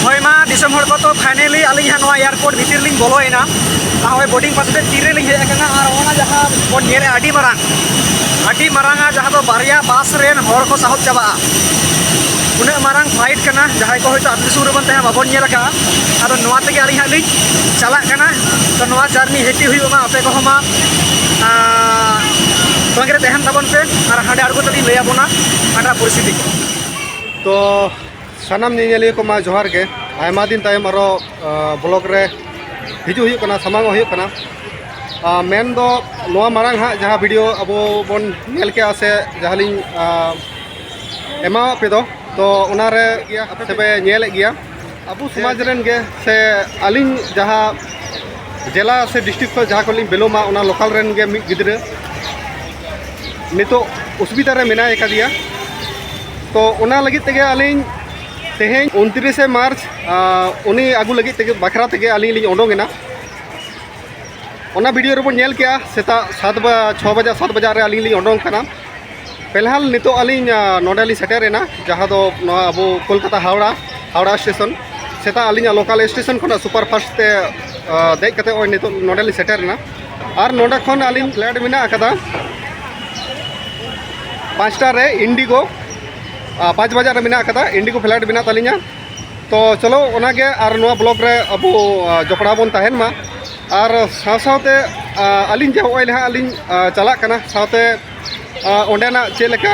ᱦᱳᱭ ᱢᱟ ᱫᱤᱥᱚᱢ ᱦᱚᱲ ᱠᱚ ᱛᱚ ᱯᱷᱟᱭᱱᱮᱞᱤ ᱟᱹᱞᱤᱧ ᱦᱟᱸᱜ ᱱᱚᱣᱟ ᱮᱭᱟᱨᱯᱳᱨᱴ ᱵᱷᱤᱛᱤᱨ ᱞᱤᱧ ᱵᱚᱞᱚᱭᱮᱱᱟ ᱟᱨ ᱦᱚᱸᱜᱼᱚᱭ ᱵᱳᱴᱤᱝ ᱯᱟᱥ ᱠᱟᱛᱮ ᱛᱤᱨᱮ ᱞᱤᱧ ᱦᱮᱡ ᱟᱠᱟᱱᱟ ᱟᱨ ᱚᱱᱟ ᱡᱟᱦᱟᱸ ᱵᱚᱱ ᱧᱮᱞᱮᱫᱼᱟ ᱟᱹᱰᱤ ᱢᱟᱨᱟᱝ ᱟᱹᱰᱤ ᱢᱟᱨᱟᱝᱟ ᱡᱟᱦᱟᱸ ᱫᱚ ᱵᱟᱨᱭᱟ ᱵᱟᱥ ᱨᱮᱱ ᱦᱚᱲ ᱠᱚ ᱥᱟᱦᱚᱵ ᱪᱟᱵᱟᱜᱼᱟ ᱩᱱᱟᱹᱜ ᱢᱟᱨᱟᱝ ᱯᱷᱞᱟᱭᱤᱴ ᱠᱟᱱᱟ ᱡᱟᱦᱟᱸᱭ ᱠᱚ ᱦᱚᱭᱛᱳ ᱟᱹᱛᱩ ᱫᱤᱥᱚᱢ ᱨᱮᱵᱚᱱ ᱛᱟᱦᱮᱸ ᱵᱟᱵᱚᱱ ᱧᱮᱞ ᱟᱠᱟᱫᱼᱟ ᱟᱫᱚ ᱱᱚᱣᱟ ᱛᱮᱜᱮ ᱟᱹᱞᱤᱧ ᱦᱟᱸᱜ ᱞᱤᱧ ᱪᱟᱞᱟᱜ ᱠᱟᱱᱟ ᱛᱚ ᱱᱚᱣᱟ ᱡᱟᱨᱱᱤ ᱦᱮᱯᱤ ᱦᱩᱭᱩᱜ ᱢᱟ ᱟᱯᱮ ᱠᱚᱦᱚᱸ ᱢᱟ ᱛᱚᱸᱜᱮ ᱨᱮ ᱛᱟᱦᱮᱱ ᱛᱟᱵᱚᱱ ᱯᱮ ᱟᱨ ᱦᱟᱸᱰᱮ ᱟᱬᱜᱚ ᱛᱮᱞᱤᱧ ᱞᱟᱹᱭ ᱟᱵᱚᱱᱟ ᱦᱟᱸᱰᱮᱱᱟᱜ ᱯᱚᱨᱤᱥᱛᱷᱤᱛᱤ ᱠᱚ ᱛᱚ ᱥᱟᱱᱟᱢ ᱧᱮᱧᱮᱞᱤᱭᱟᱹ ᱠᱚ ᱢᱟ ᱡᱚᱦᱟᱨ ᱜᱮ ᱟᱭᱢᱟ ᱫᱤᱱ ᱛᱟᱭᱚᱢ ᱟᱨᱚ ᱵᱞᱚᱜ ᱨᱮ ᱦᱤᱡᱩᱜ ᱦᱩᱭᱩᱜ ᱠᱟᱱᱟ ᱥᱟᱢᱟᱝ ᱦᱩᱭᱩᱜ ᱠᱟᱱᱟ ᱢᱮᱱ ᱫᱚ ᱱᱚᱣᱟ ᱢᱟᱲᱟᱝ ᱦᱟᱸᱜ ᱡᱟᱦᱟᱸ ᱵᱷᱤᱰᱤᱭᱳ ᱟᱵᱚ ᱵᱚᱱ ᱧᱮᱞ ᱠᱮᱜᱼᱟ ᱥᱮ ᱡᱟᱦᱟᱸ ᱞᱤᱧ ᱮᱢᱟᱣᱟᱜ ᱯᱮ ᱫᱚ ᱛᱚ ᱚᱱᱟᱨᱮ ᱟᱯᱮ ᱯᱮ ᱧᱮᱞᱮᱫ ᱜᱮᱭᱟ ᱟᱵᱚ ᱥᱚᱢᱟᱡᱽ ᱨᱮᱱ ᱜᱮ ᱥᱮ ᱟᱹᱞᱤᱧ ᱡᱟᱦᱟᱸ ᱡᱮᱞᱟ ᱥᱮ ᱰᱤᱥᱴᱨᱤᱠ ᱠᱷᱚᱱ ᱡᱟᱦᱟᱸ ᱠᱷᱚᱱ ᱞᱤᱧ ᱵᱮᱞᱚᱢᱟ ᱚᱱᱟ ᱞᱳᱠᱟᱞ ᱨᱮᱱ ᱜᱮ ᱢᱤᱫ ᱜᱤᱫᱽᱨᱟᱹ ᱱᱤᱛᱚᱜ ᱚᱥᱩᱵᱤᱫᱷᱟ ᱨᱮ ᱢᱮᱱᱟᱭ ᱟᱠᱟᱫᱮᱭᱟ ᱛᱚ ᱚᱱᱟ ᱞᱟᱹᱜᱤᱫ ᱛᱮᱜᱮ ᱟᱹᱞᱤᱧ ᱛᱮᱦᱮᱧ ᱩᱱᱛᱨᱤᱥᱮ ᱢᱟᱨᱪ ᱩᱱᱤ ᱟᱹᱜᱩ ᱞᱟᱹᱜᱤᱫ ᱛᱮᱜᱮ ᱵᱟᱠᱷᱨᱟ ᱛᱮᱜᱮ ᱟᱹᱞᱤᱧ ᱞᱤᱧ ᱚᱰᱚᱝ ᱮᱱᱟ ᱚᱱᱟ ᱵᱷᱤᱰᱤᱭᱳ ᱨᱮᱵᱚᱱ ᱧᱮᱞ ᱠᱮᱜᱼᱟ ᱥᱮᱛᱟᱜ ᱥᱟᱛ ᱪᱷᱚ ᱵᱟᱡᱟᱜ ᱥᱟᱛ ᱵᱟᱡᱟᱜ ᱨᱮ ᱟᱹᱞᱤᱧ ᱞᱤᱧ ᱚᱰᱚᱝ ᱠᱟᱱᱟ ᱯᱷᱤᱞᱦᱟᱞ ᱱᱤᱛᱚᱜ ᱟᱹᱞᱤᱧ ᱱᱚᱰᱮ ᱞᱤᱧ ᱥᱮᱴᱮᱨ ᱮᱱᱟ ᱡᱟᱦᱟᱸ ᱫᱚ ᱱᱚᱣᱟ ᱟᱵᱚ ᱠᱳᱞᱠᱟᱛᱟ ᱦᱟᱣᱲᱟ ᱦᱟᱣᱲᱟ ᱥᱴᱮᱥᱚᱱ ᱥᱮᱛᱟᱜ ᱟᱹᱞᱤᱧᱟᱜ ᱞᱳᱠᱟᱞ ᱥᱴᱮᱥᱚᱱ ᱠᱷᱚᱱᱟᱜ ᱥᱩᱯᱟᱨ ᱯᱷᱟᱥᱴ ᱛᱮ ᱫᱮᱡ ᱠᱟᱛᱮ ᱱᱚᱜᱼᱚᱭ ᱱᱤᱛᱚᱜ ᱱᱚᱰᱮ ᱞᱤᱧ ᱥᱮᱴᱮᱨ ᱮᱱᱟ ᱟᱨ ᱱᱚᱰᱮ ᱠᱷᱚᱱ ᱟᱹᱞᱤᱧ ᱯᱷᱞᱟᱭᱤᱴ ᱢᱮᱱᱟᱜ ᱟᱠᱟᱫᱟ ᱯᱟᱸᱪᱴᱟ ᱨᱮ ᱤᱱᱰᱤᱜᱳ ᱯᱟᱸᱪ ᱵᱟᱡᱟᱜ ᱨᱮ ᱢᱮᱱᱟᱜ ᱟᱠᱟᱫᱟ ᱤᱱᱰᱤᱜᱳ ᱯᱷᱞᱟᱭᱤᱴ ᱢᱮᱱᱟᱜ ᱛᱟᱹᱞᱤᱧᱟ ᱛᱚ ᱪᱚᱞᱚ ᱚᱱᱟᱜᱮ ᱟᱨ ᱱᱚᱣᱟ ᱵᱞᱚᱜᱽ ᱨᱮ ᱟᱵᱚ ᱡᱚᱯᱲᱟᱣ ᱵᱚᱱ ᱛᱟᱦᱮᱱ ᱢᱟ ᱟᱨ ᱥᱟᱶ ᱥᱟᱶᱛᱮ ᱟᱹᱞᱤᱧ ᱡᱮ ᱦᱚᱸᱜᱼᱚᱭ ᱱᱟᱦᱟᱜ ᱞᱤᱧ ᱪᱟᱞᱟᱜ ᱠᱟᱱᱟ ᱥᱟᱶᱛᱮ ᱚᱸᱰᱮᱱᱟᱜ ᱪᱮᱫ ᱞᱮᱠᱟ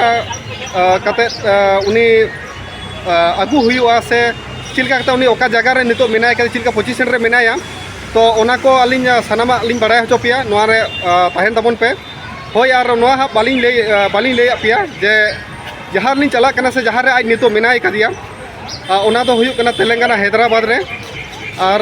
ᱠᱟᱛᱮᱫ ᱩᱱᱤ ᱟᱹᱜᱩ ᱦᱩᱭᱩᱜᱼᱟ ᱥᱮ ᱪᱮᱫ ᱞᱮᱠᱟ ᱠᱟᱛᱮᱫ ᱩᱱᱤ ᱚᱠᱟ ᱡᱟᱭᱜᱟ ᱨᱮ ᱱᱤᱛᱚᱜ ᱢᱮᱱᱟᱭ ᱠᱟᱫᱮ ᱪᱮᱫ ᱞᱮᱠᱟ ᱯᱚᱡᱤᱥᱮᱱ ᱨᱮ ᱢᱮᱱᱟᱭᱟ ᱛᱚ ᱚᱱᱟ ᱠᱚ ᱟᱹᱞᱤᱧ ᱥᱟᱱᱟᱢᱟᱜ ᱞᱤᱧ ᱵᱟᱲᱟᱭ ᱦᱚᱪᱚ ᱯᱮᱭᱟ ᱱᱚᱣᱟ ᱨᱮ ᱛᱟᱦᱮᱱ ᱛᱟᱵᱚᱱ ᱯᱮ ᱦᱳᱭ ᱟᱨ ᱱᱚᱣᱟ ᱦᱟᱸᱜ ᱵᱟᱹᱞᱤᱧ ᱞᱟᱹᱭ ᱵᱟᱹᱞᱤᱧ ᱞᱟᱹᱭᱟᱫ ᱯᱮᱭᱟ ᱡᱮ ᱡᱟᱦᱟᱸ ᱨᱮᱞᱤᱧ ᱪᱟᱞᱟᱜ ᱠᱟᱱᱟ ᱥᱮ ᱡᱟᱦᱟᱸ ᱨᱮ ᱟᱡ ᱱᱤᱛᱚᱜ ᱢᱮᱱᱟᱭ ᱠᱟᱫᱮᱭᱟ ᱚᱱᱟ ᱫᱚ ᱦᱩᱭᱩᱜ ᱠᱟᱱᱟ ᱛᱮᱞᱮᱝᱜᱟᱱᱟ ᱦᱟᱭᱫᱨᱟᱵᱟᱫᱽ ᱨᱮ ᱟᱨ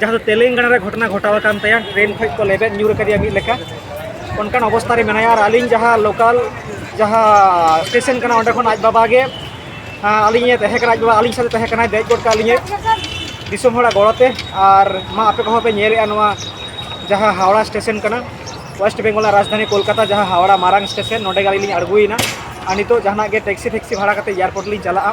ᱡᱟᱦᱟᱸ ᱫᱚ ᱛᱮᱞᱮᱝᱜᱟᱱᱟ ᱨᱮ ᱜᱷᱚᱴᱚᱱᱟ ᱜᱷᱚᱴᱟᱣ ᱟᱠᱟᱱ ᱛᱟᱭᱟ ᱴᱨᱮᱱ ᱠᱷᱚᱱ ᱠᱚ ᱞᱮᱵᱮᱫ ᱧᱩᱨ ᱟᱠᱟᱫᱮᱭᱟ ᱢᱤᱫ ᱞᱮᱠᱟ ᱚᱱᱠᱟᱱ ᱚᱵᱚᱥᱛᱟ ᱨᱮ ᱢᱮᱱᱟᱭᱟ ᱟᱨ ᱟᱹᱞᱤᱧ ᱡᱟᱦᱟᱸ ᱞᱳᱠᱟᱞ ᱡᱟᱦᱟᱸ ᱥᱴᱮᱥᱚᱱ ᱠᱟᱱᱟ ᱚᱸᱰᱮ ᱠᱷᱚᱱ ᱟᱡ ᱵᱟᱵᱟ ᱜᱮ ᱟᱹᱞᱤᱧᱮ ᱛᱟᱦᱮᱸ ᱠᱟᱱᱟ ᱟᱡ ᱵᱟᱵᱟ ᱟᱹᱞᱤᱧ ᱥᱟᱶᱛᱮ ᱛᱟᱦᱮᱸ ᱠᱟᱱᱟᱭ ᱫᱮᱡ ᱜᱚᱫ ᱠᱟᱜ ᱞᱤᱧᱟᱹ ᱫᱤᱥᱚᱢ ᱦᱚᱲᱟᱜ ᱜᱚᱲᱚᱛᱮ ᱟᱨ ᱢᱟ ᱟᱯᱮ ᱠᱚᱦᱚᱸ ᱯᱮ ᱧᱮᱞᱮᱜᱼᱟ ᱱᱚᱣᱟ ᱡᱟᱦᱟᱸ ᱦᱟᱣᱲᱟ ᱥᱴᱮᱥᱚᱱ ᱠᱟᱱᱟ ᱳᱭᱮᱥᱴ ᱵᱮᱝᱜᱚᱞ ᱨᱟᱡᱽᱫᱷᱟᱱᱤ ᱠᱳᱞᱠᱟᱛᱟ ᱡᱟᱦᱟᱸ ᱦᱟᱣᱲᱟ ᱢᱟᱨᱟᱝ ᱥᱴᱮᱥᱚᱱ ᱱᱚᱸᱰᱮ ᱜᱮ ᱟᱹᱞᱤᱧ ᱞᱤᱧ ᱟᱬᱜᱚᱭᱮᱱᱟ ᱟᱨ ᱱᱤᱛᱚᱜ ᱡᱟᱦᱟᱱᱟᱜ ᱜᱮ ᱴᱮᱠᱥᱤ ᱯᱷᱮᱠᱥᱤ ᱵᱷᱟᱲᱟ ᱠᱟᱛᱮᱫ ᱮᱭᱟᱨᱯᱳᱨᱴ ᱞᱤᱧ ᱪᱟᱞᱟᱜᱼᱟ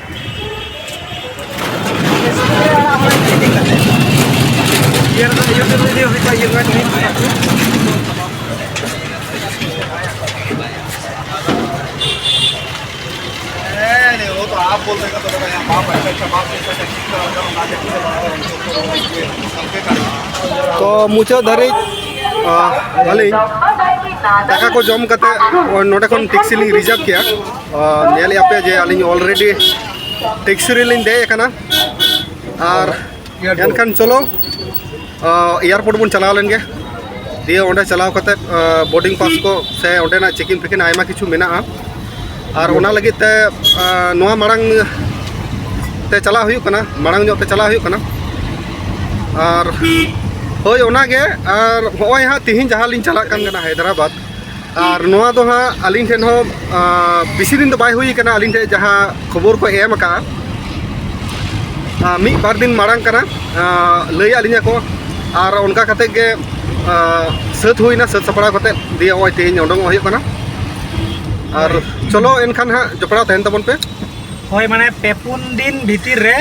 ᱛᱚ ᱢᱩᱪᱟᱹᱫ ᱫᱷᱟᱹᱨᱤᱡ ᱟᱹᱞᱤᱧ ᱫᱟᱠᱟ ᱠᱚ ᱡᱚᱢ ᱠᱟᱛᱮ ᱱᱚᱰᱮ ᱠᱷᱚᱱ ᱴᱮᱠᱥᱤ ᱞᱤᱧ ᱨᱤᱡᱟᱨᱵᱷ ᱠᱮᱜᱼᱟ ᱧᱮᱞᱮᱫ ᱟᱯᱮ ᱡᱮ ᱟᱹᱞᱤᱧ ᱚᱞᱨᱮᱰᱤ ᱴᱮᱠᱥᱤ ᱨᱮᱞᱤᱧ ᱫᱮᱡ ᱟᱠᱟᱱᱟ ᱟᱨ ᱮᱱᱠᱷᱟᱱ ᱪᱚᱞᱚ ᱮᱭᱟᱨᱯᱳᱨᱴ ᱵᱚᱱ ᱪᱟᱞᱟᱣ ᱞᱮᱱ ᱜᱮ ᱫᱤᱭᱮ ᱚᱸᱰᱮ ᱪᱟᱞᱟᱣ ᱠᱟᱛᱮᱫ ᱵᱳᱨᱰᱤᱝ ᱯᱟᱥ ᱠᱚ ᱥᱮ ᱚᱸᱰᱮᱱᱟᱜ ᱪᱮᱠᱤᱝ ᱯᱷᱮᱠᱤᱝ ᱟᱭᱢᱟ ᱠᱤᱪᱷᱩ ᱢᱮᱱᱟᱜᱼᱟ ᱟᱨ ᱚᱱᱟ ᱞᱟᱹᱜᱤᱫ ᱛᱮ ᱱᱚᱣᱟ ᱢᱟᱲᱟᱝ ᱛᱮ ᱪᱟᱞᱟᱜ ᱦᱩᱭᱩᱜ ᱠᱟᱱᱟ ᱢᱟᱲᱟᱝ ᱧᱚᱜ ᱛᱮ ᱪᱟᱞᱟᱜ ᱦᱩᱭᱩᱜ ᱠᱟᱱᱟ ᱟᱨ ᱦᱳᱭ ᱚᱱᱟᱜᱮ ᱟᱨ ᱦᱚᱸᱜᱼᱚᱭ ᱦᱟᱸᱜ ᱛᱤᱦᱤᱧ ᱡᱟᱦᱟᱸ ᱞᱤᱧ ᱪᱟᱞᱟᱜ ᱠᱟᱱ ᱠᱟᱱᱟ ᱦᱟᱭᱫᱨᱟᱵᱟᱫᱽ ᱟᱨ ᱱᱚᱣᱟ ᱫᱚ ᱦᱟᱸᱜ ᱟᱹᱞᱤᱧ ᱴᱷᱮᱱ ᱦᱚᱸ ᱵᱮᱥᱤ ᱫᱤᱱ ᱫᱚ ᱵᱟᱭ ᱦᱩᱭ ᱠᱟᱱᱟ ᱟᱹᱞᱤᱧ ᱴᱷᱮᱱ ᱡᱟᱦᱟᱸ ᱠᱷᱚᱵᱚᱨ ᱠᱚ ᱮᱢ ᱟᱠᱟᱜᱼᱟ ᱢᱤᱫ ᱵᱟᱨ ᱫᱤᱱ ᱢᱟᱲᱟᱝ ᱠᱟᱱᱟ ᱞᱟᱹᱭ ᱟᱫ ᱞᱤᱧᱟ ᱠᱚ ᱟᱨ ᱚᱱᱠᱟ ᱠᱟᱛᱮ ᱜᱮ ᱥᱟᱹᱛ ᱦᱩᱭᱱᱟ ᱥᱟᱹᱛ ᱥᱟᱯᱲᱟᱣ ᱠᱟᱛᱮ ᱫᱤᱭᱮ ᱱᱚᱜᱼᱚᱭ ᱛᱮᱦᱮᱧ ᱚᱰᱚᱝ ᱦᱩᱭᱩᱜ ᱠᱟᱱᱟ ᱟᱨ ᱪᱚᱞᱚ ᱮᱱᱠᱷᱟᱱ ᱦᱟᱸᱜ ᱡᱚᱯᱲᱟᱣ ᱛᱟᱦᱮᱱ ᱛᱟᱵᱚᱱ ᱯᱮ ᱦᱳᱭ ᱢᱟᱱᱮ ᱯᱮ ᱯᱩᱱ ᱫᱤᱱ ᱵᱷᱤᱛᱤᱨ ᱨᱮ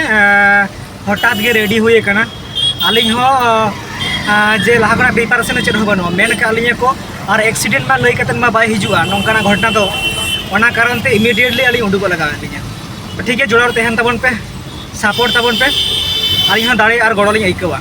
ᱦᱚᱴᱟᱛ ᱜᱮ ᱨᱮᱰᱤ ᱦᱩᱭ ᱟᱠᱟᱱᱟ ᱟᱹᱞᱤᱧ ᱦᱚᱸ ᱡᱮ ᱞᱟᱦᱟ ᱠᱷᱚᱱᱟᱜ ᱯᱨᱤᱯᱟᱨᱮᱥᱚᱱ ᱪᱮᱫ ᱦᱚᱸ ᱵᱟᱹᱱᱩᱜᱼᱟ ᱢᱮᱱ ᱠᱟᱜ ᱞᱤᱧᱟᱹ ᱠᱚ ᱟᱨ ᱮᱠᱥᱤᱰᱮᱱᱴ ᱢᱟ ᱞᱟᱹᱭ ᱠᱟᱛᱮ ᱢᱟ ᱵᱟᱭ ᱦᱤᱡᱩᱜᱼᱟ ᱱᱚᱝᱠᱟᱱᱟᱜ ᱜᱷᱚᱴᱚᱱᱟ ᱫᱚ ᱚᱱᱟ ᱠᱟᱨᱚᱱ ᱛᱮ ᱤᱢᱤᱰᱤᱭᱮᱴᱞᱤ ᱟᱹᱞᱤᱧ ᱩᱰᱩᱠᱚᱜ ᱞᱟᱜᱟᱣ ᱞᱤᱧᱟ ᱴᱷᱤᱠ ᱜᱮᱭᱟ ᱡᱚᱲᱟᱣ ᱛᱟᱦᱮᱱ ᱛᱟᱵᱚᱱ ᱯᱮ ᱥᱟᱯᱳᱨᱴ ᱛᱟᱵᱚᱱ ᱯᱮ ᱟᱹᱞᱤᱧ ᱦᱚᱸ ᱫᱟᱲᱮ ᱟᱨ ᱜᱚᱲᱚ ᱞᱤᱧ ᱟᱹᱭᱠᱟᱹᱣᱟ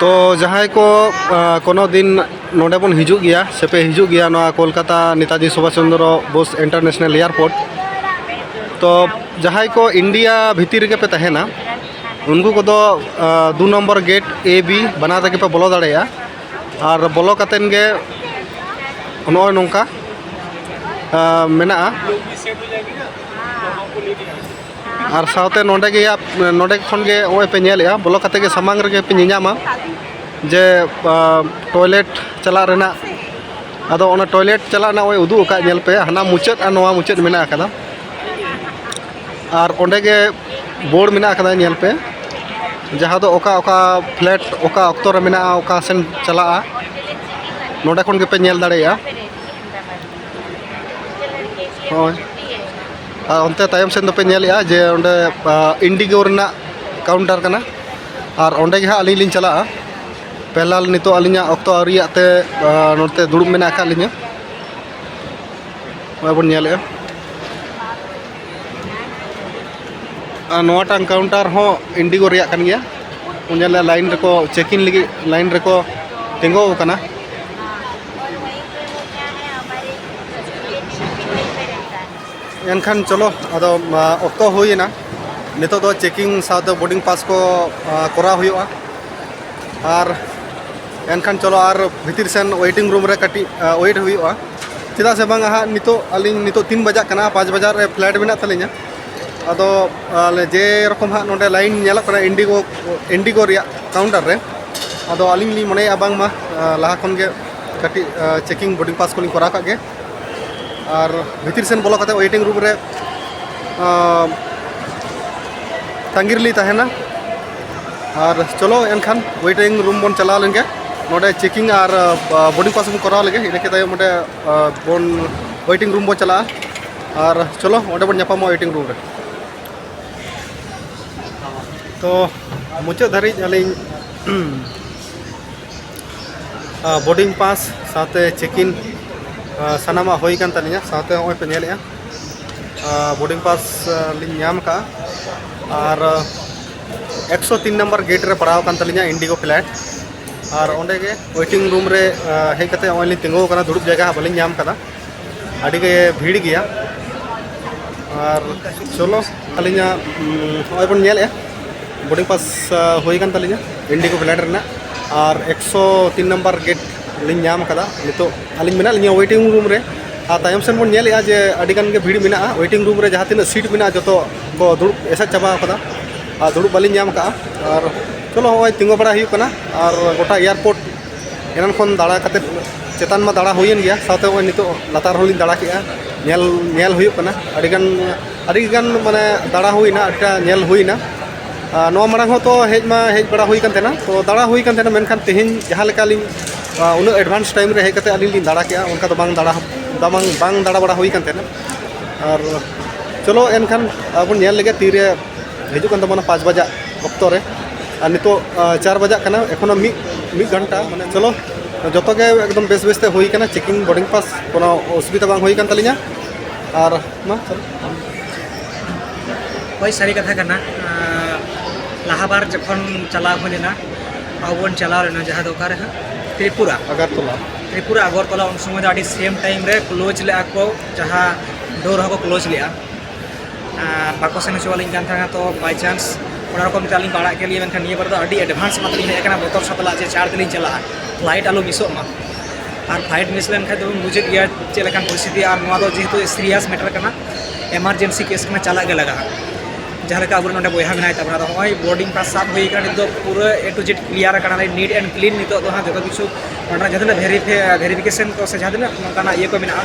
ᱛᱚ ᱡᱟᱦᱟᱸᱭ ᱠᱚ ᱠᱳᱱᱳ ᱫᱤᱱ ᱱᱚᱰᱮ ᱵᱚᱱ ᱦᱤᱡᱩᱜ ᱜᱮᱭᱟ ᱥᱮ ᱯᱮ ᱦᱤᱡᱩᱜ ᱜᱮᱭᱟ ᱱᱚᱣᱟ ᱠᱳᱞᱠᱟᱛᱟ ᱱᱮᱛᱟᱡᱤ ᱥᱩᱵᱷᱟᱥ ᱪᱚᱱᱫᱨᱚ ᱵᱳᱥ ᱤᱱᱴᱟᱨᱱᱮᱥᱱᱟᱞ ᱮᱭᱟᱨᱯᱳᱨᱴ ᱛᱚ ᱡᱟᱦᱟᱸᱭ ᱠᱚ ᱤᱱᱰᱤᱭᱟ ᱵᱷᱤᱛᱤᱨ ᱨᱮᱜᱮ ᱯᱮ ᱛᱟᱦᱮᱱᱟ ᱩᱱᱠᱩ ᱠᱚᱫᱚ ᱫᱩ ᱱᱚᱢᱵᱚᱨ ᱜᱮᱴ ᱮ ᱵᱤ ᱵᱟᱱᱟᱨ ᱨᱮᱜᱮ ᱯᱮ ᱵᱚᱞᱚ ᱫᱟᱲᱮᱭᱟᱜᱼᱟ ᱟᱨ ᱵᱚᱞᱚ ᱠᱟᱛᱮᱱ ᱜᱮ ᱱᱚᱜᱼᱚᱭ ᱱᱚᱝᱠᱟ ᱢᱮᱱᱟᱜᱼᱟ ᱟᱨ ᱥᱟᱶᱛᱮ ᱱᱚᱰᱮ ᱜᱮ ᱱᱚᱰᱮ ᱠᱷᱚᱱ ᱜᱮ ᱱᱚᱜᱼᱚᱭ ᱯᱮ ᱧᱮᱞᱮᱜᱼᱟ ᱵᱚᱞᱚ ᱠᱟᱛᱮ ᱜᱮ ᱥᱟᱢᱟᱝ ᱨᱮᱜᱮ ᱯᱮ ᱧᱮᱧᱟᱢᱟ ᱡᱮ ᱴᱚᱭᱞᱮᱴ ᱪᱟᱞᱟᱜ ᱨᱮᱱᱟᱜ ᱟᱫᱚ ᱚᱱᱟ ᱴᱚᱭᱞᱮᱴ ᱪᱟᱞᱟᱜ ᱨᱮᱱᱟᱜ ᱱᱚᱜᱼᱚᱭ ᱩᱫᱩᱜ ᱟᱠᱟᱫ ᱧᱮᱞ ᱯᱮ ᱦᱟᱱᱟ ᱢᱩᱪᱟᱹᱫ ᱟᱨ ᱱᱚᱣᱟ ᱢᱩᱪᱟᱹᱫ ᱢᱮᱱᱟᱜ ᱟᱠᱟᱫᱟ ᱟᱨ ᱚᱸᱰᱮ ᱜᱮ ᱵᱳᱲ ᱢᱮᱱᱟᱜ ᱟᱠᱟᱫᱟ ᱧᱮᱞ ᱯᱮ ᱡᱟᱦᱟᱸ ᱫᱚ ᱚᱠᱟ ᱚᱠᱟ ᱯᱷᱞᱮᱴ ᱚᱠᱟ ᱚᱠᱛᱚ ᱨᱮ ᱢᱮᱱᱟᱜᱼᱟ ᱚᱠᱟ ᱥᱮᱱ ᱪᱟᱞᱟᱜᱼᱟ ᱱᱚᱸᱰᱮ ᱠᱷᱚᱱ ᱜᱮᱯᱮ ᱧᱮᱞ ᱫᱟᱲᱮᱭᱟᱜᱼᱟ ᱦᱳᱭ ᱟᱨ ᱚᱱᱛᱮ ᱛᱟᱭᱚᱢ ᱥᱮᱱ ᱫᱚᱯᱮ ᱧᱮᱞᱮᱜᱼᱟ ᱡᱮ ᱚᱸᱰᱮ ᱤᱱᱰᱤᱜᱳ ᱨᱮᱱᱟᱜ ᱠᱟᱣᱩᱱᱴᱟᱨ ᱠᱟᱱᱟ ᱟᱨ ᱚᱸᱰᱮ ᱜᱮ ᱦᱟᱸᱜ ᱟᱹᱞᱤᱧ ᱞᱤᱧ ᱪᱟᱞᱟᱜᱼᱟ ᱯᱮᱞᱟᱞ ᱱᱤᱛᱚᱜ ᱟᱹᱞᱤᱧᱟᱜ ᱚᱠᱛᱚ ᱟᱹᱣᱨᱤᱭᱟᱜ ᱛᱮ ᱱᱚᱛᱮ ᱫᱩᱲᱩᱵ ᱢᱮᱱᱟᱜ ᱟᱠᱟᱫ ᱞᱤᱧᱟᱹ ᱱᱚᱜᱼᱚᱭ ᱵᱚᱱ ᱧᱮᱞᱮᱫᱼᱟ ᱟᱨ ᱱᱚᱣᱟᱴᱟᱝ ᱠᱟᱣᱩᱱᱴᱟᱨ ᱦᱚᱸ ᱤᱱᱰᱤᱜᱳ ᱨᱮᱭᱟᱜ ᱠᱟᱱ ᱜᱮᱭᱟ ᱵᱚᱱ ᱧᱮᱞᱮᱫᱼᱟ ᱞᱟᱭᱤᱱ ᱨᱮᱠᱚ ᱪᱮᱠᱤᱝ ᱞᱟᱹᱜᱤᱫ ᱞᱟᱭᱤᱱ ᱨᱮᱠᱚ ᱛᱤᱸᱜᱩ ᱟᱠᱟᱱᱟ ᱮᱱᱠᱷᱟᱱ ᱪᱚᱞᱚ ᱟᱫᱚ ᱚᱠᱛᱚ ᱦᱩᱭᱮᱱᱟ ᱱᱤᱛᱚᱜ ᱫᱚ ᱪᱮᱠᱤᱝ ᱥᱟᱶᱛᱮ ᱵᱳᱨᱰᱤᱝ ᱯᱟᱥ ᱠᱚ ᱠᱚᱨᱟᱣ ᱦᱩᱭᱩᱜᱼᱟ ᱟᱨ ᱮᱱᱠᱷᱟᱱ ᱪᱚᱞᱚ ᱟᱨ ᱵᱷᱤᱛᱤᱨ ᱥᱮᱱ ᱳᱭᱮᱴᱤᱝ ᱨᱩᱢ ᱨᱮ ᱠᱟᱹᱴᱤᱡ ᱳᱭᱮᱴ ᱦᱩᱭᱩᱜᱼᱟ ᱪᱮᱫᱟᱜ ᱥᱮ ᱵᱟᱝ ᱦᱟᱸᱜ ᱱᱤᱛᱚᱜ ᱟᱹᱞᱤᱧ ᱱᱤᱛᱚᱜ ᱛᱤᱱ ᱵᱟᱡᱟᱜ ᱠᱟᱱᱟ ᱯᱟᱸᱪ ᱵᱟᱡᱟᱜ ᱨᱮ ᱯᱷᱞᱟᱭᱤᱴ ᱢᱮᱱᱟᱜ ᱛᱟᱹᱞᱤᱧᱟ ᱟᱫᱚ ᱟᱞᱮ ᱡᱮ ᱨᱚᱠᱚᱢ ᱦᱟᱸᱜ ᱱᱚᱰᱮ ᱞᱟᱭᱤᱱ ᱧᱮᱞᱚᱜ ᱠᱟᱱᱟ ᱤᱱᱰᱤᱜᱳ ᱤᱱᱰᱤᱜᱳ ᱨᱮᱭᱟᱜ ᱠᱟᱣᱩᱱᱴᱟᱨ ᱨᱮ ᱟᱫᱚ ᱟᱹᱞᱤᱧ ᱞᱤᱧ ᱢᱚᱱᱮᱭᱮᱫᱼᱟ ᱵᱟᱝᱢᱟ ᱞᱟᱦᱟ ᱠᱷᱚᱱ ᱜᱮ ᱠᱟᱹᱴᱤᱡ ᱪᱮᱠᱤᱝ ᱵᱳᱨᱰᱤᱝ ᱯᱟᱥ ᱠᱚᱞᱤᱧ ᱠᱚᱨᱟᱣ ᱠᱟᱜ ᱜᱮ ᱟᱨ ᱵᱷᱤᱛᱤᱨ ᱥᱮᱱ ᱵᱚᱞᱚ ᱠᱟᱛᱮ ᱳᱭᱮᱴᱤᱝ ᱨᱩᱢ ᱨᱮ ᱛᱟᱺᱜᱤ ᱨᱮᱞᱤᱧ ᱛᱟᱦᱮᱱᱟ ᱟᱨ ᱪᱚᱞᱚ ᱮᱱᱠᱷᱟᱱ ᱳᱭᱮᱴᱤᱝ ᱨᱩᱢ ᱵᱚᱱ ᱪᱟᱞᱟᱣ ᱞᱮᱱ ᱜᱮ ᱱᱚᱰᱮ ᱪᱮᱠᱤᱝ ᱟᱨ ᱵᱳᱨᱰᱤᱝ ᱯᱟᱥ ᱵᱚᱱ ᱠᱚᱨᱟᱣ ᱞᱮᱜᱮ ᱤᱱᱟᱹ ᱠᱮᱫ ᱛᱟᱭᱚᱢ ᱚᱸᱰᱮ ᱵᱚᱱ ᱳᱭᱮᱴᱤᱝ ᱨᱩᱢ ᱵᱚᱱ ᱪᱟᱞᱟᱜᱼᱟ ᱟᱨ ᱪᱚᱞᱚ ᱚᱸᱰᱮ ᱵᱚᱱ ᱧᱟᱯᱟᱢᱚᱜᱼᱟ ᱳᱭᱮᱴᱤᱝ ᱨᱩᱢ ᱨᱮ ᱛᱚ ᱢᱩᱪᱟᱹᱫ ᱫᱷᱟᱹᱨᱤᱡ ᱟᱹᱞᱤᱧ ᱵᱳᱨᱰᱤᱝ ᱯᱟᱥ ᱥᱟᱶᱛᱮ ᱪᱮᱠ ᱤᱱ ᱥᱟᱱᱟᱢᱟᱜ ᱦᱩᱭ ᱠᱟᱱ ᱛᱟᱹᱞᱤᱧᱟ ᱥᱟᱶᱛᱮ ᱱᱚᱜᱼᱚᱭ ᱯᱮ ᱧᱮᱞᱮᱫᱼᱟ ᱵᱳᱨᱰᱤᱝ ᱯᱟᱥ ᱞᱤᱧ ᱧᱟᱢ ᱟᱠᱟᱫᱼᱟ ᱟᱨ ᱮᱠᱥᱚ ᱛᱤᱱ ᱱᱟᱢᱵᱟᱨ ᱜᱮᱴ ᱨᱮ ᱯᱟᱲᱟᱣ ᱟᱠᱟᱱ ᱛᱟᱹᱞᱤᱧᱟ ᱤᱱᱰᱤᱜᱳ ᱯᱷᱞᱟᱭᱤᱴ ᱟᱨ ᱚᱸᱰᱮ ᱜᱮ ᱳᱭᱮᱴᱤᱝ ᱨᱩᱢ ᱨᱮ ᱦᱮᱡ ᱠᱟᱛᱮᱫ ᱱᱚᱜᱼᱚᱭ ᱞᱤᱧ ᱛᱤᱸᱜᱩ ᱟᱠᱟᱱᱟ ᱫᱩᱲᱩᱵ ᱡᱟᱭᱜᱟ ᱦᱟᱸᱜ ᱵᱟᱹᱞᱤᱧ ᱧᱟᱢ ᱟᱠᱟᱫᱟ ᱟᱹᱰᱤ ᱜᱮ ᱵᱷᱤᱲ ᱜᱮᱭᱟ ᱟᱨ ᱪᱚᱞᱚ ᱟᱹᱞᱤᱧᱟᱜ ᱱᱚᱜᱼᱚᱭ ᱵᱚᱱ ᱧᱮᱞᱮᱜᱼᱟ ᱵᱳᱰᱤᱝ ᱯᱟᱥ ᱦᱩᱭ ᱠᱟᱱ ᱛᱟᱹᱞᱤᱧᱟ ᱤᱱᱰᱤᱜᱳ ᱯᱷᱞᱟᱭᱤᱴ ᱨᱮᱱᱟᱜ ᱟᱨ ᱮᱠᱥᱚ ᱛᱤᱱ ᱱᱟᱢᱵᱟᱨ ᱜᱮᱴ ᱞᱤᱧ ᱧᱟᱢ ᱠᱟᱫᱟ ᱱᱤᱛᱚᱜ ᱟᱹᱞᱤᱧ ᱢᱮᱱᱟᱜ ᱞᱤᱧᱟ ᱳᱭᱮᱴᱤᱝ ᱨᱩᱢ ᱨᱮ ᱟᱨ ᱛᱟᱭᱚᱢ ᱥᱮᱱ ᱵᱚᱱ ᱧᱮᱞᱮᱜᱼᱟ ᱡᱮ ᱟᱹᱰᱤ ᱜᱟᱱ ᱜᱮ ᱵᱷᱤᱲ ᱢᱮᱱᱟᱜᱼᱟ ᱳᱭᱮᱴᱤᱝ ᱨᱩᱢ ᱨᱮ ᱡᱟᱦᱟᱸ ᱛᱤᱱᱟᱹᱜ ᱥᱤᱴ ᱢᱮᱱᱟᱜᱼᱟ ᱡᱚᱛᱚ ᱠᱚ ᱫᱩᱲᱩᱵ ᱮᱥᱮᱫ ᱪᱟᱵᱟ ᱠᱟᱫᱟ ᱟᱨ ᱫᱩᱲᱩᱵ ᱵᱟᱹᱞᱤᱧ ᱧᱟᱢ ᱠᱟᱜᱼᱟ ᱟᱨ ᱪᱚᱞᱚ ᱱᱚᱜᱼᱚᱭ ᱛᱤᱸᱜᱩ ᱵᱟᱲᱟ ᱦᱩᱭᱩᱜ ᱠᱟᱱᱟ ᱟᱨ ᱜᱚᱴᱟ ᱮᱭᱟᱨᱯᱳᱨᱴ ᱮᱱᱟᱱ ᱠᱷᱚᱱ ᱫᱟᱬᱟ ᱠᱟᱛᱮ ᱪᱮᱛᱟᱱ ᱢᱟ ᱫᱟᱬᱟ ᱦᱩᱭᱮᱱ ᱜᱮᱭᱟ ᱥᱟᱶᱛᱮ ᱱᱚᱜᱼᱚᱭ ᱱᱤᱛᱚᱜ ᱞᱟᱛᱟᱨ ᱦᱚᱸᱞᱤᱧ ᱫᱟᱬᱟ ᱠᱮᱜᱼᱟ ᱧᱮᱞ ᱧᱮᱞ ᱦᱩᱭᱩᱜ ᱠᱟᱱᱟ ᱟᱹᱰᱤᱜᱟᱱ ᱟᱹᱰᱤᱜᱟᱱ ᱢᱟᱱᱮ ᱫᱟᱬᱟ ᱦᱩᱭᱱᱟ ᱟᱹᱰᱤᱴᱟ ᱧᱮᱞ ᱦᱩᱭᱱᱟ ᱱᱚᱣᱟ ᱢᱟᱲᱟᱝ ᱦᱚᱸ ᱛᱚ ᱦᱮᱡ ᱢᱟ ᱦᱮᱡ ᱵᱟᱲᱟ ᱦᱩᱭ ᱠᱟᱱ ᱛᱟᱦᱮᱱᱟ ᱛᱚ ᱫᱟᱬᱟ ᱦᱩᱭ ᱠᱟᱱ ᱛᱟᱦᱮᱱᱟ ᱢᱮᱱᱠᱷᱟᱱ ᱛᱮᱦᱮᱧ ᱡᱟᱦᱟᱸ ᱞᱮᱠᱟ ᱞᱤᱧ ᱩᱱᱟᱹᱜ ᱮᱰᱵᱷᱟᱱᱥ ᱴᱟᱭᱤᱢ ᱨᱮ ᱦᱮᱡ ᱠᱟᱛᱮ ᱟᱹᱞᱤᱧ ᱞᱤᱧ ᱫᱟᱬᱟ ᱠᱮᱜᱼᱟ ᱚᱱᱠᱟ ᱫᱚ ᱵᱟᱝ ᱫᱟᱬᱟ ᱵᱟᱝ ᱵᱟᱝ ᱫᱟᱬᱟ ᱵᱟᱲᱟ ᱦᱩᱭ ᱠᱟᱱ ᱛᱟᱦᱮᱱᱟ ᱟᱨ ᱪᱚᱞᱚ ᱮᱱᱠᱷᱟᱱ ᱟᱵᱚ ᱧᱮᱞ ᱞᱮᱜᱮ ᱛᱤᱨᱮ ᱦᱤᱡᱩᱜ ᱠᱟᱱ ᱛᱟᱵᱚᱱᱟ ᱯᱟᱸᱪ ᱵᱟᱡᱟᱜ ᱚᱠᱛᱚ ᱨᱮ ᱟᱨ ᱱᱤᱛᱚᱜ ᱪᱟᱨ ᱵᱟᱡᱟᱜ ᱠᱟᱱᱟ ᱮᱠᱷᱚᱱᱚ ᱢᱤᱫ ᱢᱤᱫ ᱜᱷᱚᱱᱴᱟ ᱢᱟᱱᱮ ᱪᱚᱞᱚ ᱡᱚᱛᱚ ᱜᱮ ᱮᱠᱫᱚᱢ ᱵᱮᱥ ᱵᱮᱥ ᱛᱮ ᱦᱩᱭ ᱠᱟᱱᱟ ᱪᱮᱠᱤᱝ ᱵᱳᱨᱰᱤᱝ ᱯᱟᱥ ᱠᱳᱱᱳ ᱚᱥᱩᱵᱤᱫᱷᱟ ᱵᱟᱝ ᱦᱩᱭ ᱠᱟᱱ ᱛᱟᱹᱞᱤᱧᱟ ᱟᱨ ᱢᱟ ᱪᱚᱞᱚ ᱦᱳᱭ ᱥᱟᱹᱨᱤ ᱠᱟᱛᱷᱟ ᱠᱟᱱᱟ ᱞᱟᱦᱟ ᱵᱟᱨ ᱡᱚᱠᱷᱚᱱ ᱪᱟᱞᱟᱣ ᱦᱩᱭ ᱞᱮᱱᱟ ᱟᱵᱚ ᱵᱚᱱ ᱪᱟᱞᱟᱣ ᱞᱮᱱᱟ ᱡᱟᱦᱟᱸ ᱫᱚ ᱚᱠᱟᱨᱮ ᱦᱟᱸᱜ ᱛᱨᱤᱯᱩᱨᱟ ᱟᱜᱟᱨᱛᱚᱞᱟ ᱛᱨᱤᱯᱩᱨᱟ ᱟᱜᱚᱨᱛᱚᱞᱟ ᱩᱱ ᱥᱚᱢᱚᱭ ᱫᱚ ᱟᱹᱰᱤ ᱥᱮᱢ ᱴᱟᱭᱤᱢ ᱨᱮ ᱠᱞᱳᱡᱽ ᱞᱮᱫᱼᱟ ᱠᱚ ᱡᱟᱦᱟᱸ ᱰᱳᱨ ᱦᱚᱸᱠᱚ ᱠᱞᱳᱡᱽ ᱞᱮᱫᱼᱟ ᱵᱟᱠᱚ ᱥᱮᱱ ᱦᱚᱪᱚᱣᱟᱞᱤᱧ ᱠᱟᱱ ᱛᱟᱦᱮᱸᱱᱟ ᱛᱚ ᱵᱟᱭ ᱪᱟᱱᱥ ᱚᱱᱟ ᱨᱚᱠᱚᱢ ᱛᱮ ᱟᱹᱞᱤᱧ ᱯᱟᱲᱟᱜ ᱠᱮᱫ ᱞᱤᱧ ᱢᱮᱱᱠᱷᱟᱱ ᱱᱤᱭᱟᱹ ᱵᱟᱨ ᱫᱚ ᱟᱹᱰᱤ ᱮᱰᱵᱷᱟᱱᱥ ᱮᱢᱟ ᱛᱮᱞᱤᱧ ᱦᱮᱡ ᱟᱠᱟᱱᱟ ᱵᱚᱛᱚᱨ ᱥᱟᱛᱞᱟᱜ ᱡᱮ ᱪᱟᱬ ᱛᱮᱞᱤᱧ ᱪᱟᱞᱟᱜᱼᱟ ᱯᱷᱞᱟᱭᱤᱴ ᱟᱞᱚ ᱢᱤᱥᱚᱜ ᱢᱟ ᱟᱨ ᱯᱷᱞᱟᱭᱤᱴ ᱢᱤᱥ ᱞᱮᱱᱠᱷᱟᱱ ᱫᱚᱵᱚᱱ ᱵᱩᱡᱮᱫ ᱜᱮᱭᱟ ᱪᱮᱫ ᱞᱮᱠᱟᱱ ᱯᱚᱨᱤᱥᱛᱷᱤᱛᱤ ᱟᱨ ᱱᱚᱣᱟ ᱫᱚ ᱡᱮᱦᱮᱛᱩ ᱥᱤᱨᱤᱭᱟᱥ ᱢᱮᱴᱟᱨ ᱠᱟᱱᱟ ᱮᱢᱟᱨᱡᱮᱱᱥᱤ ᱠᱮᱥ ᱠᱟᱱᱟ ᱪᱟᱞᱟᱜ ᱜᱮ ᱞᱟᱜᱟᱜᱼᱟ ᱡᱟᱦᱟᱸ ᱞᱮᱠᱟ ᱟᱵᱚ ᱱᱚᱰᱮ ᱵᱚᱭᱦᱟ ᱢᱮᱱᱟᱭ ᱛᱟᱵᱚᱱᱟ ᱟᱫᱚ ᱦᱚᱸᱜᱼᱚᱭ ᱵᱳᱨᱰᱤᱝ ᱯᱟᱥ ᱥᱟᱵ ᱦᱩᱭ ᱟᱠᱟᱱᱟ ᱱᱤᱛᱚᱜ ᱯᱩᱨᱟᱹ ᱮ ᱴᱩ ᱡᱮᱰ ᱠᱞᱤᱭᱟᱨ ᱟᱠᱟᱱᱟ ᱱᱤᱴ ᱮᱱᱰ ᱠᱞᱤᱱ ᱱᱤᱛᱚᱜ ᱫᱚ ᱦᱟᱸᱜ ᱡᱚᱛᱚ ᱠᱤᱪᱷᱩ ᱱᱚᱰᱮᱱᱟᱜ ᱡᱟᱦᱟᱸ ᱛᱤᱱᱟᱹᱜ ᱵᱷᱮᱨᱤᱯᱷᱤᱠᱮᱥᱚᱱ ᱠᱚ ᱥᱮ ᱡᱟᱦᱟᱸ ᱛᱤᱱᱟᱹᱜ ᱱᱚᱝᱠᱟᱱᱟᱜ ᱤᱭᱟᱹ ᱠᱚ ᱢᱮᱱᱟᱜᱼᱟ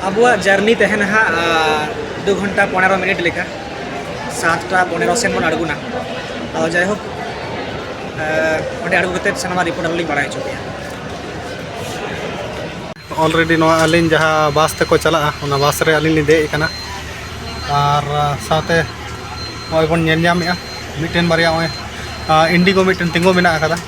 ᱟᱵᱚᱣᱟᱜ ᱡᱟᱨᱱᱤ ᱛᱟᱦᱮᱱᱟ ᱦᱟᱸᱜ ᱫᱩ ᱜᱷᱚᱱᱴᱟ ᱯᱚᱱᱮᱨᱚ ᱢᱤᱱᱤᱴ ᱞᱮᱠᱟ ᱥᱟᱛᱴᱟ ᱯᱚᱱᱮᱨᱚ ᱥᱮᱱ ᱵᱚᱱ ᱟᱬᱜᱚᱱᱟ ᱟᱫᱚ ᱡᱟᱭᱦᱳᱠ ᱚᱸᱰᱮ ᱟᱬᱜᱚ ᱠᱟᱛᱮᱫ ᱥᱟᱱᱟᱢᱟᱜ ᱨᱤᱯᱳᱨᱴ ᱟᱞᱤᱧ ᱵᱟᱲᱟᱭ ᱦᱚᱪᱚ ᱯᱮᱭᱟ ᱚᱞᱨᱮᱰᱤ ᱱᱚᱣᱟ ᱟᱹᱞᱤᱧ ᱡᱟᱦᱟᱸ ᱵᱟᱥ ᱛᱮᱠᱚ ᱪᱟᱞᱟᱜᱼᱟ ᱚᱱᱟ ᱵᱟᱥ ᱨᱮ ᱟᱹᱞᱤᱧ ᱞᱤᱧ ᱫᱮᱡ ᱟᱠᱟᱱᱟ ᱟᱨ ᱥᱟᱶᱛᱮ ᱱᱚᱜᱼᱚᱭ ᱵᱚᱱ ᱧᱮᱞ ᱧᱟᱢᱮᱜᱼᱟ ᱢᱤᱫᱴᱮᱱ ᱵᱟᱨᱭᱟ ᱱᱚᱜᱼᱚᱭ ᱤᱱᱰᱤᱜᱳ ᱢᱤᱫᱴᱮᱱ ᱛᱤᱸᱜᱩ ᱢᱮᱱᱟᱜ ᱟᱠᱟᱫᱟ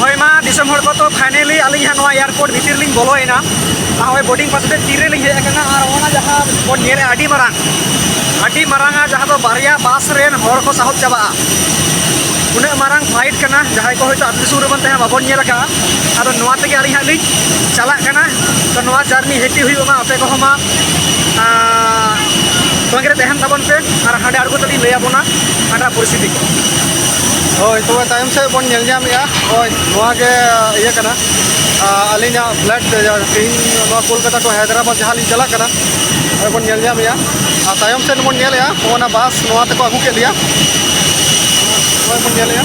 ᱦᱳᱭ ᱢᱟ ᱫᱤᱥᱚᱢ ᱦᱚᱲ ᱠᱚ ᱛᱚ ᱯᱷᱟᱭᱱᱮᱞᱤ ᱟᱹᱞᱤᱧ ᱦᱟᱸᱜ ᱱᱚᱣᱟ ᱮᱭᱟᱨᱯᱳᱨᱴ ᱵᱷᱤᱛᱤᱨ ᱞᱤᱧ ᱵᱚᱞᱚᱭᱮᱱᱟ ᱟᱨ ᱦᱳᱭ ᱵᱳᱰᱤᱝ ᱯᱟᱥ ᱠᱟᱛᱮ ᱛᱤᱨᱮ ᱞᱤᱧ ᱦᱮᱡ ᱟᱠᱟᱱᱟ ᱟᱨ ᱚᱱᱟ ᱡᱟᱦᱟᱸ ᱵᱚᱱ ᱧᱮᱞᱮᱫᱼᱟ ᱟᱹᱰᱤ ᱢᱟᱨᱟᱝ ᱟᱹᱰᱤ ᱢᱟᱨᱟᱝᱟ ᱡᱟᱦᱟᱸ ᱫᱚ ᱵᱟᱨᱭᱟ ᱵᱟᱥ ᱨᱮᱱ ᱦᱚᱲ ᱠᱚ ᱥᱟᱦᱚᱵ ᱪᱟᱵᱟᱜᱼᱟ ᱩᱱᱟᱹᱜ ᱢᱟᱨᱟᱝ ᱯᱷᱟᱭᱤᱴ ᱠᱟᱱᱟ ᱡᱟᱦᱟᱸᱭ ᱠᱚ ᱦᱚᱭᱛᱳ ᱟᱹᱛᱩ ᱫᱤᱥᱚᱢ ᱨᱮᱵᱚᱱ ᱛᱟᱦᱮᱸ ᱵᱟᱵᱚᱱ ᱧᱮᱞ ᱟᱠᱟᱫᱼᱟ ᱟᱫᱚ ᱱᱚᱣᱟ ᱛᱮᱜᱮ ᱟᱹᱞᱤᱧ ᱦᱟᱸᱜ ᱞᱤᱧ ᱪᱟᱞᱟᱜ ᱠᱟᱱᱟ ᱛᱚ ᱱᱚᱣᱟ ᱡᱟᱨᱱᱤ ᱦᱮᱯᱤ ᱦᱩᱭᱩᱜ ᱢᱟ ᱟᱯᱮ ᱠᱚᱦᱚᱸ ᱢᱟ ᱥᱚᱸᱜᱮ ᱨᱮ ᱛᱟᱦᱮᱱ ᱛᱟᱵᱚᱱ ᱯᱮ ᱟᱨ ᱦᱟᱸᱰᱮ ᱟᱬᱜᱚ ᱛᱮᱞᱤᱧ ᱞᱟᱹᱭ ᱟᱵᱚᱱᱟ ᱦᱟᱸᱰᱟ ᱯᱚᱨᱤᱥᱛᱷᱤᱛᱤ ᱠᱚ ᱦᱳᱭ ᱛᱚᱵᱮ ᱛᱟᱭᱚᱢ ᱥᱮᱫ ᱵᱚᱱ ᱧᱮᱞ ᱧᱟᱢᱮᱜᱼᱟ ᱦᱳᱭ ᱱᱚᱣᱟ ᱜᱮ ᱤᱭᱟᱹ ᱠᱟᱱᱟ ᱟᱹᱞᱤᱧᱟᱜ ᱯᱷᱞᱟᱴ ᱛᱮᱦᱮᱧ ᱱᱚᱣᱟ ᱠᱳᱞᱠᱟᱛᱟ ᱠᱷᱚᱱ ᱦᱟᱭᱫᱨᱟᱵᱟᱫᱽ ᱡᱟᱦᱟᱸ ᱞᱤᱧ ᱪᱟᱞᱟᱜ ᱠᱟᱱᱟ ᱱᱚᱜᱼᱚᱭ ᱵᱚᱱ ᱧᱮᱞ ᱧᱟᱢᱮᱜᱼᱟ ᱟᱨ ᱛᱟᱭᱚᱢ ᱥᱮᱫ ᱵᱚᱱ ᱧᱮᱞᱮᱜᱼᱟ ᱚᱱᱟ ᱵᱟᱥ ᱱᱚᱣᱟ ᱛᱮᱠᱚ ᱟᱹᱜᱩ ᱠᱮᱫ ᱞᱮᱭᱟ ᱱᱚᱜᱼᱚᱭ ᱵᱚᱱ ᱧᱮᱞᱮᱜᱼᱟ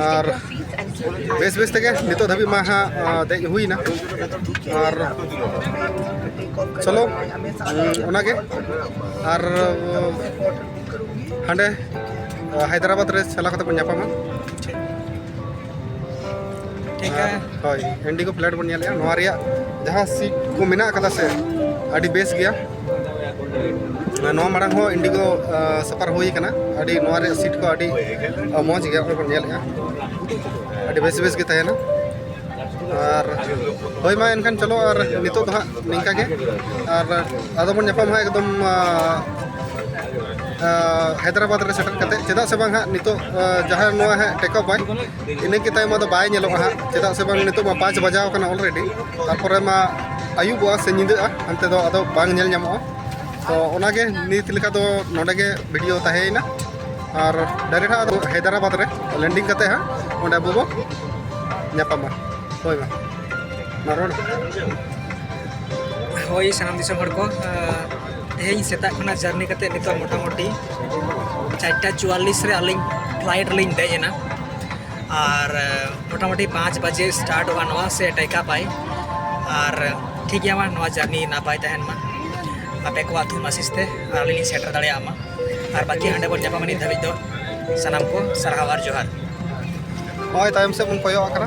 ᱟᱨ ᱵᱮᱥ ᱵᱮᱥ ᱛᱮᱜᱮ ᱱᱤᱛᱚᱜ ᱫᱷᱟᱹᱵᱤᱡ ᱢᱟ ᱦᱟᱸᱜ ᱫᱮᱡ ᱦᱩᱭᱱᱟ ᱟᱨ ᱪᱚᱞᱚ ᱚᱱᱟᱜᱮ ᱟᱨ ᱦᱟᱸᱰᱮ ᱦᱟᱭᱫᱨᱟᱵᱟᱫᱽ ᱨᱮ ᱪᱟᱞᱟᱣ ᱠᱟᱛᱮ ᱵᱚᱱ ᱧᱟᱯᱟᱢᱟ ᱦᱳᱭ ᱤᱱᱰᱤᱜᱳ ᱯᱷᱞᱟᱭᱤᱴ ᱵᱚᱱ ᱧᱮᱞᱮᱜᱼᱟ ᱱᱚᱣᱟ ᱨᱮᱭᱟᱜ ᱡᱟᱦᱟᱸ ᱥᱤᱴ ᱠᱚ ᱢᱮᱱᱟᱜ ᱠᱟᱫᱟ ᱥᱮ ᱟᱹᱰᱤ ᱵᱮᱥ ᱜᱮᱭᱟ ᱱᱚᱣᱟ ᱢᱟᱲᱟᱝ ᱦᱚᱸ ᱤᱱᱰᱤᱜᱳ ᱥᱟᱯᱟᱨ ᱦᱩᱭ ᱠᱟᱱᱟ ᱟᱹᱰᱤ ᱱᱚᱣᱟ ᱨᱮᱭᱟᱜ ᱥᱤᱴ ᱠᱚ ᱟᱹᱰᱤ ᱢᱚᱡᱽ ᱜᱮᱭᱟ ᱚᱠᱚᱭ ᱵᱚᱱ ᱧᱮᱞᱮᱜᱼᱟ ᱟᱹᱰᱤ ᱵᱮᱥ ᱵᱮᱥ ᱜᱮ ᱛᱟᱦᱮᱱᱟ ᱟᱨ ᱦᱳᱭ ᱢᱟ ᱮᱱᱠᱷᱟᱱ ᱪᱚᱞᱚ ᱟᱨ ᱱᱤᱛᱚᱜ ᱫᱚ ᱦᱟᱸᱜ ᱱᱤᱝᱠᱟ ᱜᱮ ᱟᱨ ᱟᱫᱚ ᱵᱚᱱ ᱧᱟᱯᱟᱢ ᱦᱟᱸᱜ ᱮᱠᱫᱚᱢ ᱦᱟᱭᱫᱨᱟᱵᱟᱫᱽ ᱨᱮ ᱥᱮᱴᱮᱨ ᱠᱟᱛᱮ ᱪᱮᱫᱟᱜ ᱥᱮ ᱵᱟᱝ ᱦᱟᱸᱜ ᱱᱤᱛᱚᱜ ᱡᱟᱦᱟᱸ ᱱᱚᱣᱟ ᱦᱟᱸᱜ ᱴᱮᱠ ᱚᱯᱷ ᱟᱭ ᱤᱱᱟᱹ ᱠᱮ ᱛᱟᱭᱚᱢ ᱫᱚ ᱵᱟᱭ ᱧᱮᱞᱚᱜᱼᱟ ᱦᱟᱸᱜ ᱪᱮᱫᱟᱜ ᱥᱮ ᱵᱟᱝ ᱱᱤᱛᱚᱜ ᱢᱟ ᱯᱟᱸᱪ ᱵᱟᱡᱟᱣ ᱠᱟᱱᱟ ᱚᱞᱨᱮᱰᱤ ᱛᱟᱨᱯᱚᱨᱮ ᱢᱟ ᱟᱹᱭᱩᱵᱚᱜᱼᱟ ᱥᱮ ᱧᱤᱫᱟᱹᱜᱼᱟ ᱦᱟᱱᱛᱮ ᱫᱚ ᱟᱫᱚ ᱵᱟᱝ ᱧᱮᱞ ᱧᱟᱢᱚᱜᱼᱟ ᱛᱚ ᱚᱱᱟᱜᱮ ᱱᱤᱛ ᱞᱮᱠᱟ ᱫᱚ ᱱᱚᱰᱮ ᱜᱮ ᱵᱷᱤᱰᱤᱭᱳ ᱛᱟᱦᱮᱸᱭᱮᱱᱟ ᱟᱨ ᱰᱟᱭᱨᱮᱠᱴ ᱦᱟᱸᱜ ᱦᱟᱭᱫᱨᱟᱵᱟᱫᱽ ᱨᱮ ᱞᱮᱱᱰᱤᱝ ᱠᱟᱛᱮ ᱦᱟᱸᱜ ᱚᱸᱰᱮ ᱟᱵᱚ ᱵᱚ ᱧᱟᱯᱟᱢᱟ ᱦᱳᱭ ᱢᱟ ᱢᱟ ᱨᱚᱲ ᱦᱳᱭ ᱥᱟᱱᱟᱢ ᱫᱤᱥᱚᱢ ᱦᱚᱲ ᱠᱚ ᱛᱮᱦᱮᱧ ᱥᱮᱛᱟᱜ ᱠᱷᱚᱱᱟᱜ ᱡᱟᱨᱱᱤ ᱠᱟᱛᱮ ᱱᱤᱛᱚᱜ ᱢᱚᱴᱟᱢᱩᱴᱤ ᱪᱟᱨᱴᱟ ᱪᱩᱣᱟᱞᱞᱤᱥ ᱨᱮ ᱟᱹᱞᱤᱧ ᱯᱷᱞᱟᱭᱤᱴ ᱨᱮᱞᱤᱧ ᱫᱮᱡ ᱮᱱᱟ ᱟᱨ ᱢᱚᱴᱟᱢᱩᱴᱤ ᱯᱟᱸᱪ ᱵᱟᱡᱮ ᱥᱴᱟᱨᱴᱚᱜᱼᱟ ᱱᱚᱣᱟ ᱥᱮ ᱴᱮᱠᱟ ᱯᱟᱭ ᱟᱨ ᱴᱷᱤᱠ ᱜᱮᱭᱟ ᱢᱟ ᱱᱚᱣᱟ ᱡᱟᱨᱱᱤ ᱱᱟᱯᱟᱭ ᱛᱟᱦᱮᱱ ᱢᱟ ᱟᱯᱮ ᱠᱚᱣᱟᱜ ᱛᱷᱩᱢ ᱟᱥᱤᱥ ᱛᱮ ᱟᱨ ᱟᱹᱞᱤᱧ ᱞᱤᱧ ᱥᱮᱴᱮᱨ ᱫᱟᱲᱮᱭᱟᱜ ᱢᱟ ᱟᱨ ᱵᱟᱹᱠᱤ ᱦᱟᱸᱰᱮ ᱵᱚᱱ ᱧᱟᱯᱟᱢᱟ ᱱᱤᱛ ᱫᱷᱟᱹᱵᱤᱡ ᱫᱚ ᱥᱟᱱᱟᱢ ᱠᱚ ᱥᱟᱨᱦᱟᱣ ᱟᱨ ᱡᱚᱦᱟᱨ ᱱᱚᱜᱼᱚᱭ ᱛᱟᱭᱚᱢ ᱥᱮᱫ ᱵᱚᱱ ᱠᱚᱭᱚᱜ ᱟᱠᱟᱱᱟ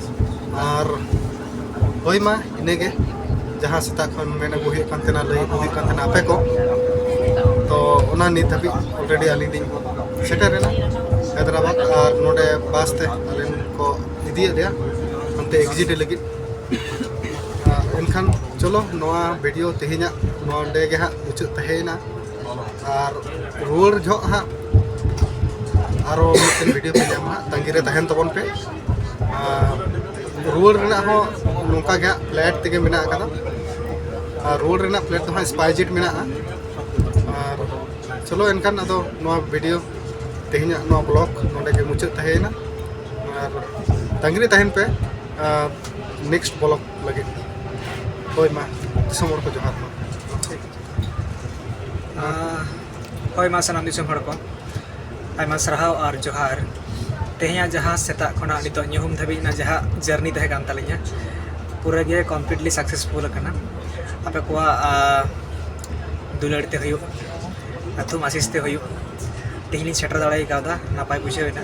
ᱟᱨ ᱦᱳᱭ ᱢᱟ ᱤᱱᱟᱹᱜᱮ ᱡᱟᱦᱟᱸ ᱥᱮᱛᱟᱜ ᱠᱷᱚᱱ ᱢᱮᱱ ᱟᱹᱜᱩ ᱦᱩᱭᱩᱜ ᱠᱟᱱ ᱛᱟᱦᱮᱱᱟ ᱞᱟᱹᱭ ᱟᱹᱜᱩ ᱦᱩᱭᱩᱜ ᱠᱟᱱ ᱛᱟᱦᱮᱱᱟ ᱟᱯᱮ ᱠᱚ ᱛᱚ ᱚᱱᱟ ᱱᱤᱛ ᱫᱷᱟᱹᱵᱤᱡ ᱚᱞᱨᱮᱰᱤ ᱟᱹᱞᱤᱧ ᱞᱤᱧ ᱥᱮᱴᱮᱨᱮᱱᱟ ᱦᱟᱭᱫᱨᱟᱵᱟᱫᱽ ᱟᱨ ᱱᱚᱰᱮ ᱵᱟᱥ ᱛᱮ ᱟᱞᱮ ᱠᱚ ᱤᱫᱤᱭᱮᱫ ᱞᱮᱭᱟ ᱚᱱᱛᱮ ᱮᱠᱡᱤᱴ ᱞᱟᱹᱜᱤᱫ ᱮᱱᱠᱷᱟᱱ ᱪᱚᱞᱚ ᱱᱚᱣᱟ ᱵᱷᱤᱰᱤᱭᱳ ᱛᱮᱦᱮᱧᱟᱜ ᱱᱚᱰᱮ ᱜᱮ ᱦᱟᱸᱜ ᱢᱩᱪᱟᱹᱫ ᱛᱟᱦᱮᱸᱭᱮᱱᱟ ᱟᱨ ᱨᱩᱣᱟᱹᱲ ᱡᱚᱦᱚᱜ ᱦᱟᱸᱜ ᱟᱨᱚ ᱢᱤᱫᱴᱮᱱ ᱵᱷᱤᱰᱤᱭᱳ ᱯᱮ ᱧᱟᱢᱟ ᱦᱟᱸᱜ ᱛᱟᱺᱜᱤ ᱨᱮ ᱛᱟᱦᱮᱱ ᱛᱟᱵᱚᱱ ᱯᱮ ᱨᱩᱣᱟᱹᱲ ᱨᱮᱱᱟᱜ ᱦᱚᱸ ᱱᱚᱝᱠᱟ ᱜᱮ ᱦᱟᱸᱜ ᱯᱷᱞᱮᱴ ᱛᱮᱜᱮ ᱢᱮᱱᱟᱜ ᱟᱠᱟᱫᱟ ᱟᱨ ᱨᱩᱣᱟᱹᱲ ᱨᱮᱱᱟᱜ ᱯᱷᱞᱮᱴ ᱫᱚ ᱦᱟᱸᱜ ᱥᱯᱟᱭ ᱡᱮᱴ ᱢᱮᱱᱟᱜᱼᱟ ᱟᱨ ᱪᱚᱞᱚ ᱮᱱᱠᱷᱟᱱ ᱟᱫᱚ ᱱᱚᱣᱟ ᱵᱷᱤᱰᱤᱭᱳ ᱛᱮᱦᱮᱧᱟᱜ ᱱᱚᱣᱟ ᱵᱞᱚᱜ ᱱᱚᱰᱮ ᱜᱮ ᱢᱩᱪᱟᱹᱫ ᱛᱟᱦᱮᱸᱭᱮᱱᱟ ᱟᱨ ᱛᱟᱺᱜᱤ ᱨᱮ ᱛᱟᱦᱮᱱ ᱯᱮ ᱱᱮᱠᱥᱴ ᱵᱞᱚᱜ ᱞᱟᱹᱜᱤᱫ ᱦᱳᱭ ᱢᱟ ᱫᱤᱥᱚᱢ ᱦᱚᱲ ᱠᱚ ᱡᱚᱦᱟᱨ ᱢᱟ ᱦᱳᱭ ᱢᱟ ᱥᱟᱱᱟᱢ ᱫᱤᱥᱚᱢ ᱦᱚᱲ ᱠᱚ ᱟᱭᱢᱟ ᱥᱟᱨᱦᱟᱣ ᱟᱨ ᱡᱚᱦᱟᱨ ᱛᱮᱦᱮᱧᱟᱜ ᱡᱟᱦᱟᱸ ᱥᱮᱛᱟᱜ ᱠᱷᱚᱱᱟᱜ ᱱᱤᱛᱚᱜ ᱧᱩᱦᱩᱢ ᱫᱷᱟᱹᱵᱤᱡ ᱨᱮᱱᱟᱜ ᱡᱟᱦᱟᱸ ᱡᱟᱨᱱᱤ ᱛᱟᱦᱮᱸ ᱠᱟᱱ ᱛᱟᱹᱞᱤᱧᱟ ᱯᱩᱨᱟᱹ ᱜᱮ ᱠᱚᱢᱯᱞᱤᱴᱞᱤ ᱥᱟᱠᱥᱮᱥᱯᱷᱩᱞ ᱟᱠᱟᱱᱟ ᱟᱯᱮ ᱠᱚᱣᱟᱜ ᱫᱩᱞᱟᱹᱲ ᱛᱮ ᱦᱩᱭᱩᱜ ᱟᱛᱳᱢ ᱟᱥᱤᱥ ᱛᱮ ᱦᱩᱭᱩᱜ ᱛᱮᱦᱮᱧ ᱞᱤᱧ ᱥᱮᱴᱮᱨ ᱫᱟᱲᱮ ᱠᱟᱣᱫᱟ ᱱᱟᱯᱟᱭ ᱵᱩᱡᱷᱟᱹᱣ ᱮᱱᱟ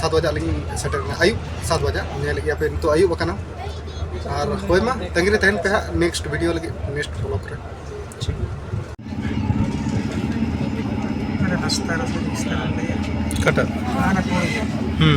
ᱥᱟᱛ ᱵᱟᱡᱟᱜ ᱞᱤᱧ ᱥᱮᱴᱮᱨ ᱮᱱᱟ ᱟᱹᱭᱩᱵ ᱥᱟᱛ ᱵᱟᱡᱟᱜ ᱧᱮᱞ ᱜᱮᱭᱟ ᱯᱮ ᱱᱤᱛᱚᱜ ᱟᱹᱭᱩᱵ ᱟᱠᱟᱱᱟ ᱟᱨ ᱦᱳᱭ ᱢᱟ ᱛᱟᱺᱜᱤ ᱨᱮ ᱛᱟᱦᱮᱱ ᱯᱮ ᱦᱟᱸᱜ ᱱᱮᱠᱥᱴ ᱵᱷᱤᱰᱤᱭᱳ ᱞᱟᱹᱜᱤᱫ ᱱᱮᱠᱥᱴ ᱵᱞᱚᱜ ᱨᱮ ᱴᱷᱤᱠ ᱨᱟᱥᱛᱟ ᱨᱟᱥᱛᱟ ᱨᱟᱥᱛᱟ ᱠᱟᱴᱟ ᱦᱩᱸ